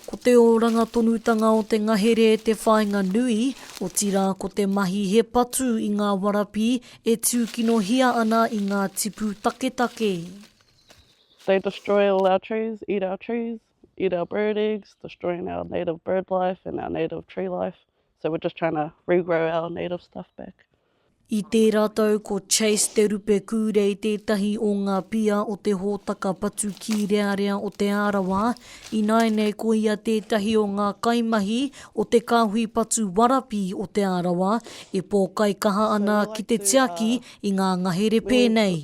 Ko te oranga tonutanga o te ngahere te whāinga nui, otirā ko te mahi he patu i ngā warapi e tūkinohia ana i ngā tipu taketake. They destroy all our trees, eat our trees, eat our bird eggs, destroying our native bird life and our native tree life, so we're just trying to regrow our native stuff back. I tērā tau ko Chase Te Rupe Kūrei tētahi o ngā pia o te hōtaka patu kīrearea o Te Arawa, ināianei ko ia tētahi o ngā kaimahi o te kāhui patu warapi o Te Arawa e pōkaikaha ana ki te tiaki i ngā ngahere pēnei.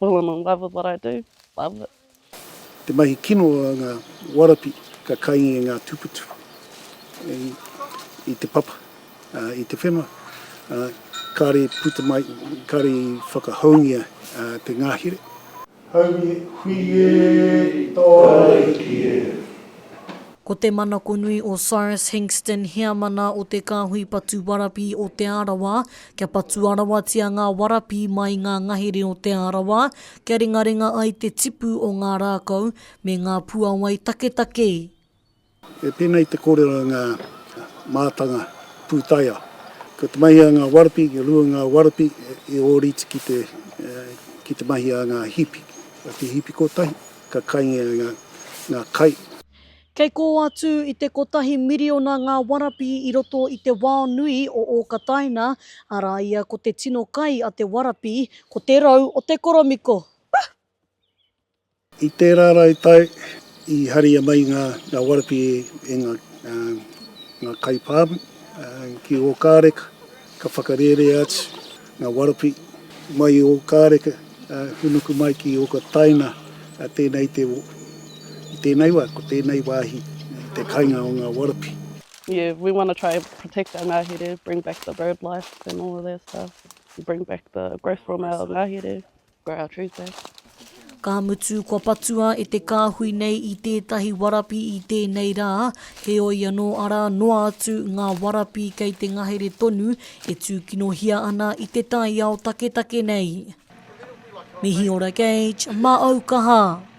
Well I'm in love with what I do, love it. Te mahi kino a nga warapi ka kai i nga tuputupu, i te papa, i te whenua. Kare i puta mai, kare i whakahoungia te ngahere. Haumi hui e, i to ariki e. Ko te manakonui o Cyrus Hinkston, heamana o te Kāhui Patu Warapi o Te Arawa, Kia patua rawatia ngā warapi mai i ngā ngahere o Te Arawa, kia ringaringa ai te tipu o ngā rākau me ngā puawai taketake. He penei te kōrero i ngā mātanga pūtaiao, Ko te mahi a ngā warapi, kia rua ngā warapi i ōrite ki te ki te mahi a ngā hipi. Ko te hipi kotahi, ka kaingia ngā kai. Kei kō atu i te kotahi miriona ngā warapi i roto i te wao nui o Ōkataina, arā ia ko te tino kai a te warapi, ko te rau o te koromiko. I tērā rau tau i haria mai ngā warapi e ngā kai pāmu ki Ōkāreka, ka whakarērea atu. Nga Warapi, mai i Okareka, hunuku mai ki Okataina, tenei te wo. I tenei wa, ko tenei wahi te kainga o nga Warapi. Yeah we wanna try protect our ngahere, bring back the bird life and all of that stuff, bring back the growth from our ngahere. Grow our trees back. Ka mutu kua patua e te kāhui nei i tētahi warapi i tēnei rā, heoi anō arā noa atu ngā warapi kei te ngahere tonu e tūkinohia ana i te taiao taketake nei. Mihi ora Gage, mā au kaha!